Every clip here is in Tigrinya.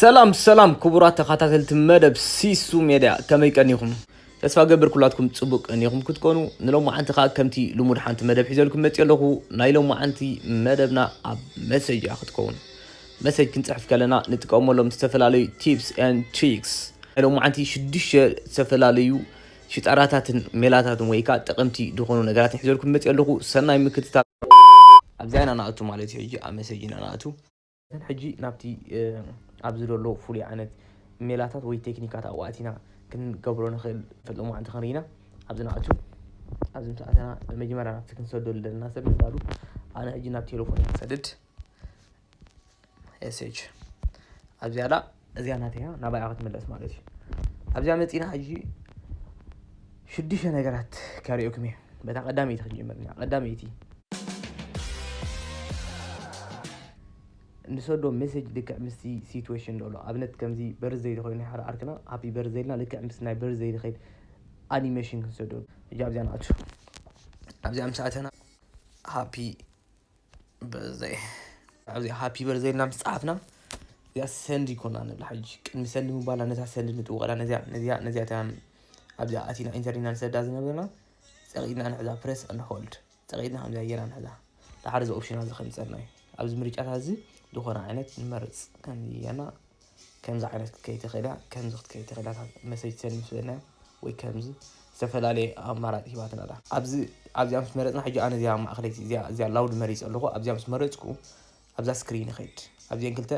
ሰላም ሰላም ክቡራት ተኻታተልቲ መደብ ሲሱ ሜድያ ከመይ ቀኒኹም? ተስፋ ገብር ኩላትኩም ጽቡቅ ቀኒኹም ክትኮኑ ንሎማዓንቲ ከኣ ከምቲ ልሙድ ሓንቲ መደብ ሒዘልኩም መጽየ ኣለኹ ናይ ሎማዓንቲ መደብና ኣብ መሰጅ እያ ክትከውን መሰጅ ክንጽሕፍ ከለና ንጥቀመሎም ዝተፈላለዩ ቲፕስ ኤን ትሪክስ ናይ ሎማዓንቲ ሽዱሽተ ዝተፈላለዩ ሽጣራታትን ሜላታትን ወይ ከኣ ጠቐምቲ ዝኾኑ ነገራትን ሒዘልኩም መጽየ ኣለኹ ሰናይ ምክትታል ኣብዚኣ ኢና ንኣቱ ማለት እዩ ሕጂ ኣብ መሰጅ ኢና ንኣቱ ሕጂ ናብቲ ኣብዚ ዘሎ ፍሉይ ዓይነት ሜላታት ወይ ቴክኒካት ኣብኡ ኣቲና ክንገብሮ ንኽእል ፈለማ መዓልቲ ክንርኢና ኣብዚ ንኣቱ ኣብዚ ምስ ኣተና መጀመርያ ናብቲ ክንሰደሉ ዘለና ሰብ ንዳሉ ኣነ ሕጂ ናብ ቴሌፎን ክሰድድ ኤስች ኣብዚኣላ እዚኣ ናተይ እያ ናባይ እያ ክትምለስ ማለት እዩ ኣብዚኣ መፂና ሕጂ ሽዱሽተ ነገራት ከሪኦኩም እየ በታ ቀዳመይቲ ክንጅምር ኢና ቀዳመይቲ ንሰዶ ሜሴጅ ልክዕ ምስቲ ሲትዌሽን ዶሎ ኣብነት ከምዚ በርዘይ ኮይኑ ሓደ ዓርክና ሃፒ በርዘይ ኢልና ልክዕ ምስ ናይ በርዘይ ዝኸይድ ኣኒሜሽን ክንሰዶ እጃ ኣብዚያ ንኣቱ ኣብዚኣ ምስ ኣተና ሃፒ በዘይ ኣብዚ ሃፒ በርዘይ ኢልና ምስ ጸሓፍና እዚኣ ሰንድ ይኮና ንብል ሓጂ ቅድሚ ሰንድ ምባላ ነዛ ሰንድ ንጥውቐላ ነዚኣ ነዚኣ ነዚኣ እታ ኣብዚኣ ኣቲና ኢንተር ኢና ንሰዳ ዝነበርና ጸቂጥና ንሕዛ ፕረስ ኣንድ ሆልድ ጸቂጥና ከምዚኣ ጌና ንሕዛ ድሓር እዚ ኦፕሽናት እዚ ከምጸና እዩ ኣብዚ ምርጫታት እዚ ዝኾነ ዓይነት ንመርጽ ከምዚ ጌርና ከምዚ ዓይነት ክትከይድ ትኽእል እያ፣ ከምዚ ክትከይድ ትኽእል እያ፣ እታ መሰይቲ ሰኒ ምስ በልናዮ ወይ ከምዚ ዝተፈላለየ ኣማራጺ ሂባትና ኣላ። ኣብዚ ኣብዚኣ ምስ መረጽና ሕጂ ኣነ እዚኣ ማእከለይቲ እዚኣ እዚኣ ላውድ መሪጸ ኣለኹ። ኣብዚኣ ምስ መረጽኩ ኣብዛ ስክሪን ይኸይድ። ኣብዚኤን ክልተ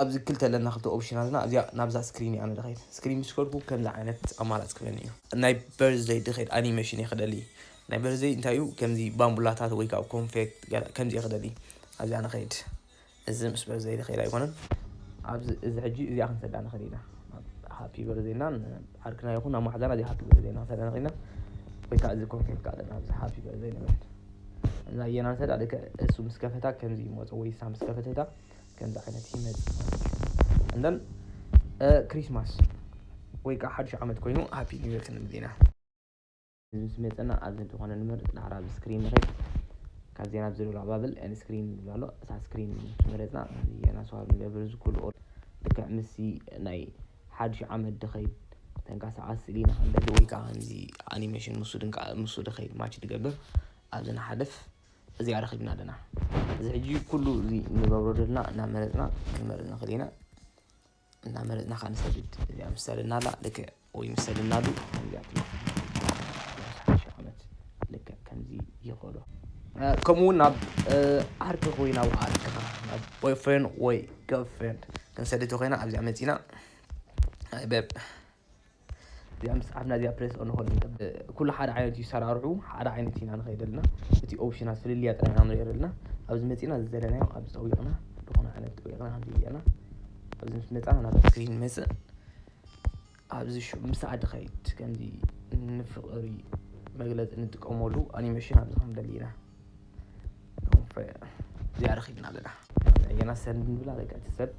ኣብዚ ክልተ ኣለና ክልተ ኦፕሽናትና እዚኣ ናብዛ ስክሪን ኣነ ድኸይድ ስክሪን ምስ ከድኩ ከምዚ ዓይነት ኣማራጺ ክበኒ እዩ ናይ በርዝደይ ድኸይድ ኣኒሜሽን እየ ክደሊ ናይ በርዝደይ እንታይ እዩ ከምዚ ባምቡላታት ወይ ከዓ ኮንፌክት ከምዚ እየ ክደሊ ኣብዚኣ ንኸይድ እዚ ምስ በርዘይ ዝኸይድ ኣይኮነን ኣብዚ እዚ ሕጂ እዚኣ ክንሰዳ ንኽእል ኢና ሃፒ በርዘይ እና ዓርክና ይኹን ናብ ማሓዛና እዚ ሃፒ በርዘይ ናሰዳ ንኽእል ኢና ወይ ከዓ እዚ ኮንፌት ካለ ናብዚ ሃፒ በርዘይ ንብል እዛ የና ንሰዳ ልክ እሱ ምስ ከፈታ ከምዚ ይመፆ ወይ እሳ ምስ ከፈተታ ከምዚ ዓይነት ይመፅ ማለት እዩ እንደን ክሪስማስ ወይ ከዓ ሓዱሽ ዓመት ኮይኑ ሃፒ ኒው ይር ክንብል ኢና ምስ መጸና ኣብዚ እንተኾነ ንመርጽ ዳሕራ ኣብ ስክሪን ንኸይድ ካብ ዜና ኣብ ዝብል ኣባብል ን ስክሪን ዝብል ኣሎ እሳ ስክሪን መረጽና ዜና ሰዋብ ንገብር እዚ ኩሉ ልክዕ ምስዚ ናይ ሓድሽ ዓመት ድኸይድ ተንቀሳቓሲ ስእሊ ንኸለሉ ወይ ከዓ ከምዚ ኣኒሜሽን ምስ ድንቃ ምስ ድኸይድ ማች ድገብር ኣብዚ ንሓልፍ እዚኣ ረኺብና ኣለና እዚ ሕጂ ኩሉ እዚ ንገብሮ ዘለና እናመረጽና ክንመርጽ ንኽእል ኢና እናመረፅና ከዓ ንሰግድ እዚኣ ምስ ሰለናላ ልክዕ ወይ ምስ ሰለናሉ ከምዚ ኣቢሉ ሓሙሽተ ዓመት ልክዕ ከምዚ ይኸዶ ከምኡ እውን ናብ ዓርኪ ኮይና ናብ ዓርክኻ ናብ ቦይፍሬንድ ወይ ገርልፍሬንድ ክንሰድድ ተኮይና ኣብዚኣ መፂና በብ እዚኣ ምስ ጻፍና እዚኣ ፕሬስ እንኾን ኩሉ ሓደ ዓይነት እዩ ሰራርሑ ሓደ ዓይነት ኢና ንኸይድ ኣለና እቲ ኦፕሽናት ፍልልያ ጥራይ ኢና ንሪኦ ዘለና ኣብዚ መጺና ዝዘለናዮ ኣብዚ ጠዊቕና ዝኾነ ዓይነት ጠዊቕና ከምዚ ገርና ኣብዚ ምስ መጻና ናብ ስክሪን መጽእ ኣብዚ ምስ ዓዲ ኸይድ ከምዚ ንፍቕሪ መግለጺ ንጥቀመሉ ኣኒሜሽን ኣብዚ ክንደሊ ኢና እዚኣ ረኺብና ኣለና ገና ሰንድ ንብላ በቃ እቲ ሰብ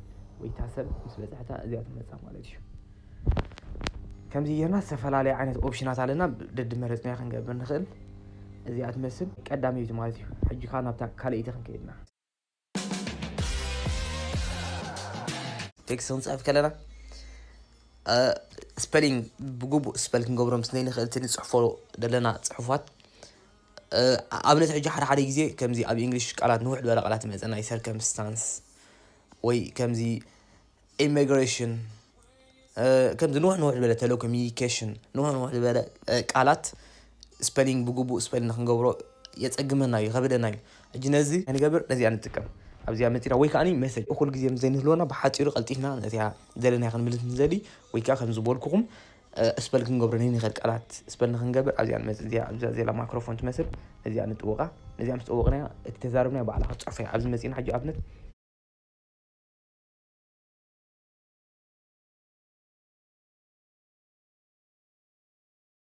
ወይ እታ ሰብ ምስ በፅሐታ እዚኣ ትመፃ ማለት እዩ ከምዚ ጌርና ዝተፈላለየ ዓይነት ኦፕሽናት ኣለና ደድመረፅና ክንገብር ንኽእል እዚኣ ትመስል ቀዳመይቲ ማለት እዩ ሕጂ ከዓ ናብታ ካልኣይቲ ክንከይድና ቴክስት ክንጽሕፍ ከለና ስፐሊንግ ብግቡእ ስፐል ክንገብሮ ምስ ዘይንኽእል እቲ ንጽሕፎ ዘለና ጽሑፋት ኣብነት ሕጂ ሓደ ሓደ ግዜ ከምዚ ኣብ እንግሊሽ ቃላት ንውሕ ዝበለ ቃላት ይመፀና ዩ ሰርከምስታንስ ወይ ከምዚ ኢሚግሬሽን ከምዚ ንውሕ ንውሕ ዝበለ ቴሌኮሚኒኬሽን ንውሕ ንውሕ ዝበለ ቃላት ስፐሊንግ ብግቡእ ስፐሊንግ ክንገብሮ የፀግመና እዩ ከብደና እዩ ሕጂ ነዚ ንገብር ነዚኣ ንጥቀም ኣብዚኣ መፂና ወይ ከዓኒ መሰጅ እኩል ግዜ ምስ ዘይንህልወና ብሓፂሩ ቀልጢፍና ነዚኣ ዘለናያ ክንምልስ ንዘሊ ወይ ከዓ ከም ዝበልኩኹም ስፐል ክንገብሮ ንንኽእል ቃላት ስፐል ንክንገብር ኣብዚኣ ንመፅእ እዚኣ ኣብዛ ዘላ ማይክሮፎን ትመስል ነዚኣ ንጥወቃ ነዚኣ ምስ ጠወቕናያ እቲ ተዛረብናያ ባዕላ ክትፅሑፈያ ኣብዚ መፂና ሕጂ ኣብነት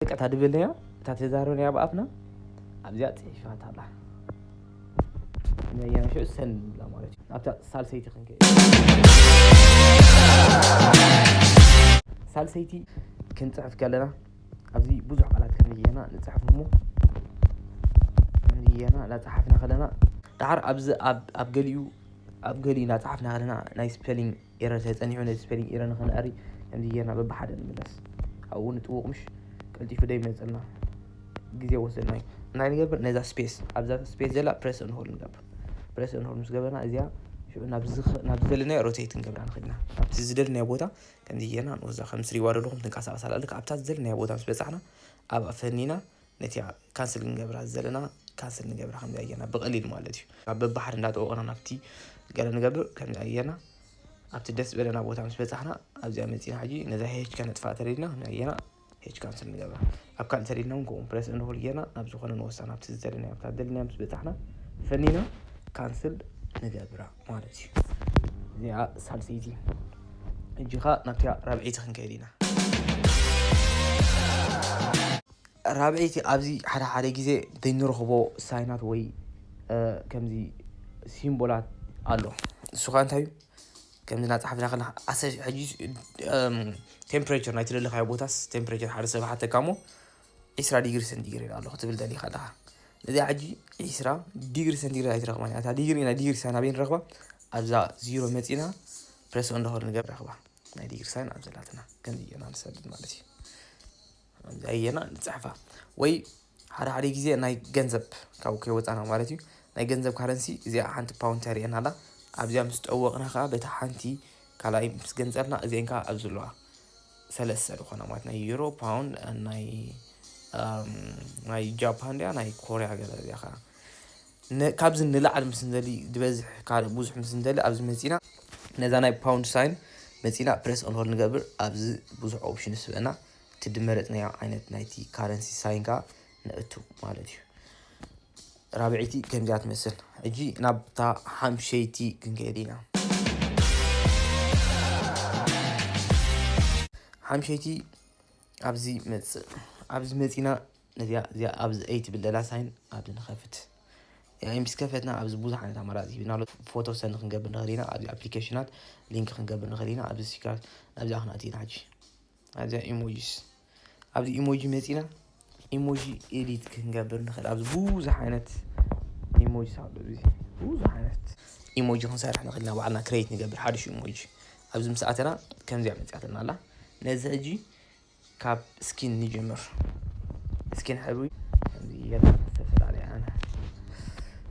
በቃ ታድብልያ እታ ተዛረብያ ብኣፍና ኣብዚያ ፅሒፋት ኣላ ነያ ሽዑ ሰን ንብላ ማለት እዩ ኣብታ ሳልሰይቲ ክንከይድ ሳልሰይቲ ክንፅሕፍ ከለና ኣብዚ ብዙሕ ቃላት ከምየና ንፅሕፍ እሞ ከምየና ላፀሓፍና ከለና ዳሓር ኣብዚ ኣብ ገሊኡ ኣብ ገሊኡ እናጸሓፍና ከለና ናይ ስፔሊንግ ኤረር ተጸኒሑ ነዚ ስፔሊንግ ኤረር ንኸነዕሪ ከምዚ ጌርና በብሓደ ንምለስ ኣብኡ ንጥውቕ ምሽ ቀልጢፉ ዶ ይመጸና ግዜ ወሰድና እዩ እንታይ ንገብር ነዛ ስፔስ ኣብዛ ስፔስ ዘላ ፕሬስ እንሆል ንገብር ፕሬስ እንሆል ምስ ገበርና እዚኣ ሽዑ ናብ ዝደለናዮ ሮቴት ንገብራ ንኽእል ኢና ኣብቲ ዝደለናዮ ቦታ ከምዚ ጌርና ንወዛ ከም ስሪዋ ደለኹም ትንቀሳቐስ ኣላ ልክ ኣብታ ዝደለናዮ ቦታ ምስ በጻሕና ኣብኣ ፈኒና ነቲኣ ካንስል ክንገብራ ዘለና ካንስል ንገብራ ከምዚ ኣየና ብቀሊል ማለት እዩ ካብ በባሕሪ እንዳጠወቕና ናብቲ ገለ ንገብር ከምዚ ኣየና ኣብቲ ደስ በለና ቦታ ምስ በፃሕና ኣብዚኣ መፂና ሕጂ ነዛ ሄች ከነጥፋእ ተሪድና ከምዚ ኣየና ሄች ካንስል ንገብራ ኣብ ካልእ ተሪድና እውን ከምኡ ፕረስ እንሆል ጌርና ናብ ዝኾነ ንወስዳ ናብቲ ዝደለናዮ ኣብታ ደለናዮ ምስ በፃሕና ፈኒና ካንስል ንገብራ ማለት እዩ እዚኣ ሳልሰይቲ እጅኻ ናብቲኣ ራብዒቲ ክንከይድ ኢና ራብዐይቲ ኣብዚ ሓደ ሓደ ግዜ ዘይንረኽቦ ሳይናት ወይ ከምዚ ሲምቦላት ኣሎ ንሱ ከዓ እንታይ እዩ ከምዚ እናፀሓፍና ከለካ ኣሰ ሕጂ ቴምፕሬቸር ናይ ትደለካዮ ቦታስ ቴምፕሬቸር ሓደ ሰብ ሓተካ እሞ ዒስራ ዲግሪ ሰንቲግሬድ ኣሎ ክትብል ደሊካ ኣለካ እዚኣ ሕጂ ዒስራ ዲግሪ ሰንቲግሬድ ኣይትረክባን እያ እታ ዲግሪ ናይ ዲግሪ ሳይን ኣበይ ንረክባ ኣብዛ ዚሮ መፂና ፕረስ እንደሆነ ንገብ ረክባ ናይ ዲግሪ ሳይን ኣብ ዘላትና ከምዚ እየና ንሰድድ ማለት እዩ ኣየና ንጽሕፋ ወይ ሓደ ሓደ ግዜ ናይ ገንዘብ ካብ ከይወፃና ማለት እዩ ናይ ገንዘብ ካረንሲ እዚኣ ሓንቲ ፓውንድ ተርእየና ኣላ ኣብዚኣ ምስ ጠወቕና ከዓ በታ ሓንቲ ካልኣይ ምስ ገንፀልና እዚአን ከዓ ኣብዚ ኣለዋ ሰለስተ ዝኾና ማለት ናይ ዩሮ ፓውንድ ናይ ናይ ጃፓን ድያ ናይ ኮርያ ገለ እዚኣ ከዓ ካብዚ ንላዕሊ ምስ ንደሊ ዝበዝሕ ካልእ ብዙሕ ምስ ንደሊ ኣብዚ መፂና ነዛ ናይ ፓውንድ ሳይን መፂና ፕሬስ ኦንሆል ንገብር ኣብዚ ብዙሕ ኦፕሽን ስበና እቲ ድመረጽናዮ ዓይነት ናይቲ ካረንሲ ሳይን ከኣ ነእቱ ማለት እዩ። ራብዐይቲ ከምዚኣ ትመስል። ሕጂ ናብታ ሓምሸይቲ ክንከይድ ኢና። ሓምሸይቲ ኣብዚ መጽእ ኣብዚ መጺና ነዚኣ እዚኣ ኣብዚ ኣይ ትብል ዘላ ሳይን ኣብዚ ንኸፍት እዚኣ ምስ ከፈትና ኣብዚ ብዙሕ ዓይነት ኣማራፂ ሂብና ኣሎ ፎቶ ሰንድ ክንገብር ንኽእል ኢና ኣብዚ ኣፕሊኬሽናት ሊንክ ክንገብር ንኽእል ኢና ኣብዚ ሲካር ኣብዚኣ ክንኣቲ ኢና ሕጂ ኣዚኣ ኢሞጂስ ኣብዚ ኢሞጂ መጺና ኢሞጂ ኤዲት ክንገብር ንኽእል ኣብዚ ብዙሕ ዓይነት ኢሞጂ ኣሎ እዚ ብዙሕ ዓይነት ኢሞጂ ክንሰርሕ ንኽእል ኢና ባዕልና ክሬት ንገብር ሓድሽ ኢሞጂ ኣብዚ ምስ ኣተና ከምዚኣ መጺኣትና ኣላ ነዚ ሕጂ ካብ ስኪን ንጀምር ስኪን ሕብሪ ከምዚ ጌርና ዝተፈላለያ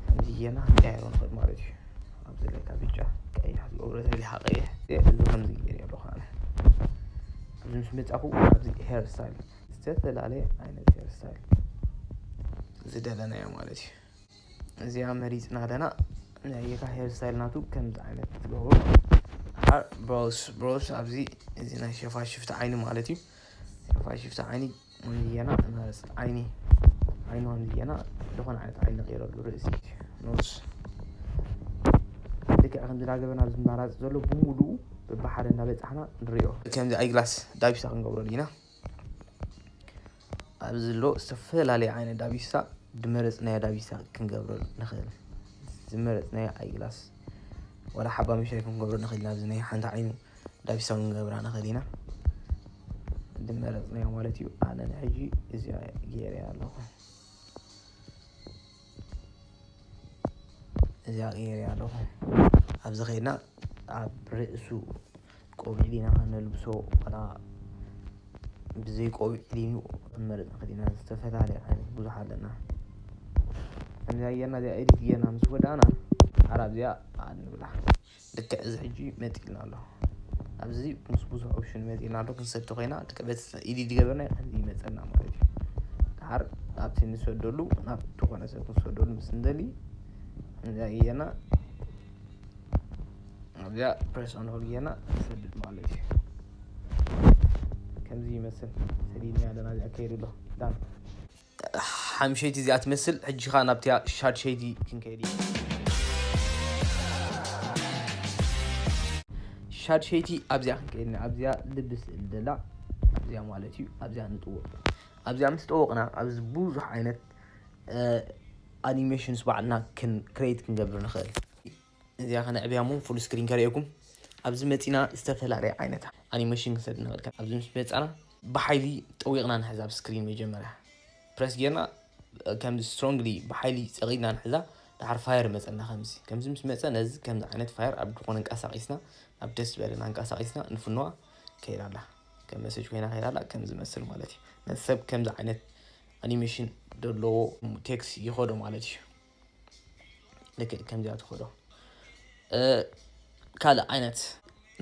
ከምዚ ጌርና ክንቀያይሮ ንኽእል ማለት እዩ ኣብዚ ላይ ካብ ብጫ ቀይሕ ዝገብሮ ዘርጊሓ ቀይሕ እዚ ከምዚ ገይረ ኣለኹ ኣነ ኣብዚ ምስ መጻኹ ኣብዚ ሄር ስታይል ዝተፈላለየ ዓይነት ሄር ስታይል ዝደለናዮ ማለት እዩ እዚኣ መሪፅና ኣለና ናይካ ሄር ስታይል ናቱ ከምዚ ዓይነት ትገብሩ ብሮስ ብሮስ ኣብዚ እዚ ናይ ሸፋሽፍቲ ዓይኒ ማለት እዩ ሸፋሽፍቲ ዓይኒ ንየና መረፅት ዓይኒ ዓይኑ ንየና ዝኾነ ዓይነት ዓይኒ ቀይረሉ ርእሲ ኖስ ልክዕ ከምዚ ዳገበና ኣብዚ ማራፅ ዘሎ ብሙሉ ብሓደ እናበፃሕና ንሪኦ ከምዚ ኣይግላስ ዳቢሳ ክንገብረሉ ኢና ኣብዚ ዘሎ ዝተፈላለየ ዓይነት ዳቢሳ ድመረፅናዮ ዳቢሳ ክንገብረሉ ንኽእል ዝመረፅናዮ ኣይግላስ ወላ ሓባ መሻይ ክንገብረሉ ንኽእል ኢና ኣብዚ ናይ ሓንቲ ዓይኑ ዳቢሳዊ ንገብራ ንኽእል ኢና ድመረፅናዮ ማለት እዩ ኣነ ንሕጂ እዚኣ ገይረ ኣለኹ እዚኣ ገይረ ኣለኹ ኣብዚ ከይድና ኣብ ርእሱ ቆቢዕ ዲና ከነልብሶ ዋላ ብዘይ ቆቢዕ ዲኑ ክንመርፅ ንኽእል ኢና ዝተፈላለየ ዓይነት ብዙሕ ኣለና ከምዚኣ ጌርና እዚኣ ኤዲት ጌርና ምስ ወዳእና ዓራብ እዚኣ ንብላ ልክዕ እዚ ሕጂ መጺኡልና ኣሎ ኣብዚ ምስ ብዙሕ ኦፕሽን መጺኡልና ኣሎ ክንሰድ ተኾይና ልክዕ በቲ ኢዲት ዝገበርና ከምዚ ይመጸና ማለት እዩ ድሓር ናብቲ ንሰደሉ ናብ ዝኾነ ሰብ ክንሰደሉ ምስ ንደሊ እንታይ እየና ኣብዚኣ ፕሬስ ኦን ሆል እየና ንሰድድ ማለት እዩ ከምዚ ይመስል ሰዲድና ኣለና እዚኣ ከይዱ ኣሎ ዳን ሓምሸይቲ እዚኣ ትመስል ሕጂ ከኣ ናብቲያ ሻድሸይቲ ክንከይድ ኢና ሻድሸይቲ ኣብዚኣ ክንከይድ ኢና ኣብዚያ ልቢ ስእል ደላ ኣብዚያ ማለት እዩ ኣብዚያ ንጥወቕ ኣብዚኣ ምስ ጠወቕና ኣብዚ ብዙሕ ዓይነት ኣኒሜሽንስ ባዕልና ክሬት ክንገብር ንኽእል እዚኣ ከነዕብያ እሞ ፉል ስክሪን ከርእየኩም ኣብዚ መፂና ዝተፈላለየ ዓይነት ኣኒሜሽን ክንሰድ እናበልካ ኣብዚ ምስ መፃና ብሓይሊ ጠዊቕና ንሕዛ ኣብ ስክሪን መጀመርያ ፕረስ ጌርና ከምዚ ስትሮንግሊ ብሓይሊ ፀቒድና ንሕዛ ድሓር ፋየር መፀና ከምዚ ከምዚ ምስ መፀ ነዚ ከምዚ ዓይነት ፋየር ኣብ ድኾነ እንቀሳቂስና ናብ ደስ ዝበለና እንቀሳቂስና ንፍንዋ ከይዳ ኣላ ከም መሰጅ ኮይና ከይዳ ኣላ ከም ዝመስል ማለት እዩ ነዚ ሰብ ከምዚ ዓይነት ኣኒሜሽን ዘለዎ ቴክስ ይኸዶ ማለት እዩ ልክዕ ከምዚኣ ትኸዶ ካልእ ዓይነት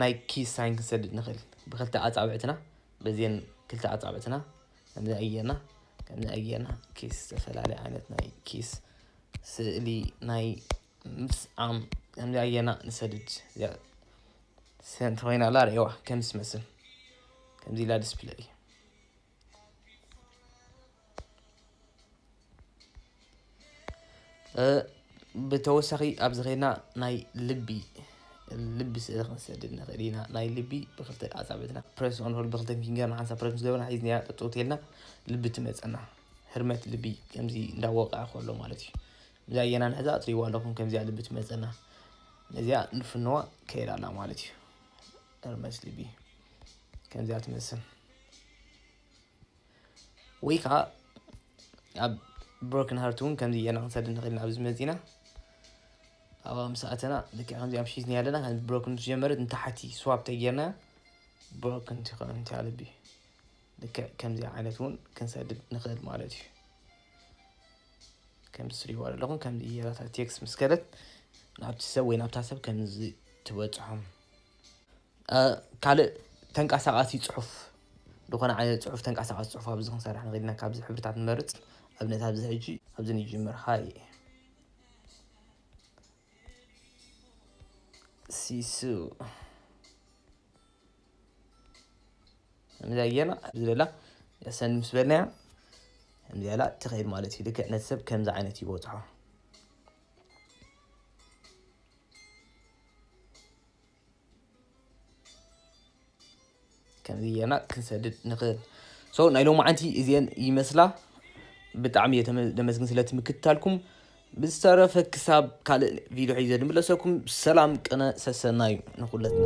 ናይ ኪስ ሳይን ክንሰድድ ንኽእል ብክልተ ኣፃብዕትና በዚን ክልተ ኣፃብዕትና ከምዚ ኣየና ከምዚ ኣየና ኪስ ዝተፈላለየ ዓይነት ናይ ኪስ ስእሊ ናይ ምስዓም ከምዚ ኣየና ንሰድድ ሰንት ኮይና ኣላ ርእዋ ከም ዝመስል ከምዚ ኢላ ዲስፕለይ ብተወሳኺ ኣብዚ ኸይድና ናይ ልቢ ልቢ ስእሊ ክንሰድድ ንኽእል ኢና ናይ ልቢ ብክልተ ኣፃብዕትና ፕረስ ኦንሆል ብክልተ ፊንገርና ሓንሳ ፕረስ ምስ ገበርና ሒዝና ጠጠው ተልና ልቢ ትመፀና ህርመት ልቢ ከምዚ እንዳወቀዐ ከሎ ማለት እዩ እዛ ኣየና ንሕዛ እትሪዋ ኣለኹም ከምዚኣ ልቢ ትመፀና ነዚኣ ንፍንዋ ከይድ ኣላ ማለት እዩ እርመስ ቲቪ ከምዚኣ ትመስል ወይ ከዓ ኣብ ብሮክን ሃርት እውን ከምዚ እየና ክንሰድ ንኽእል ኣብዚ መፂና ኣብ ምሳኣተና ልክ ከምዚ ኣብ ሒዝኒ ኣለና ከም ብሮክን ዝጀመረት ንታሕቲ ስዋብ ተጌርና ብሮክን ትኸውን እንተ ልቢ ልክዕ ከምዚ ዓይነት እውን ክንሰድድ ንኽእል ማለት እዩ ከምዚ ስሪዎ ኣለኹም ከምዚ እየራታ ቴክስ ምስ ከለት ናብቲ ሰብ ወይ ናብታ ሰብ ከምዚ ትበፅሖም ካልእ ተንቃሳቓሲ ጽሑፍ ዝኾነ ዓይነት ጽሑፍ ተንቃሳቓሲ ጽሑፍ ኣብዚ ክንሰርሕ ንኽእል ኢና ካብዚ ሕብርታት ንመርጽ ኣብነት ኣብዚ ሕጂ ኣብዚ ንጅምር ሃይ ሲሱ ከምዚ ኣየና ኣብዚ ደላ ሰን ምስ በልናያ ከምዚ ኣላ ትኸይድ ማለት እዩ ልክዕ ነቲ ሰብ ከምዚ ዓይነት ይበጽሖ ከምዚ ጌርና ክንሰድድ ንኽእል ሶ ናይ ሎማዓንቲ እዚአን ይመስላ ብጣዕሚ እየ ደመስግን ስለቲ ምክትታልኩም ብዝተረፈ ክሳብ ካልእ ቪድዮ ሒዘ ድምለሰኩም ሰላም ቅነ ሰሰናዩ ንኹለትና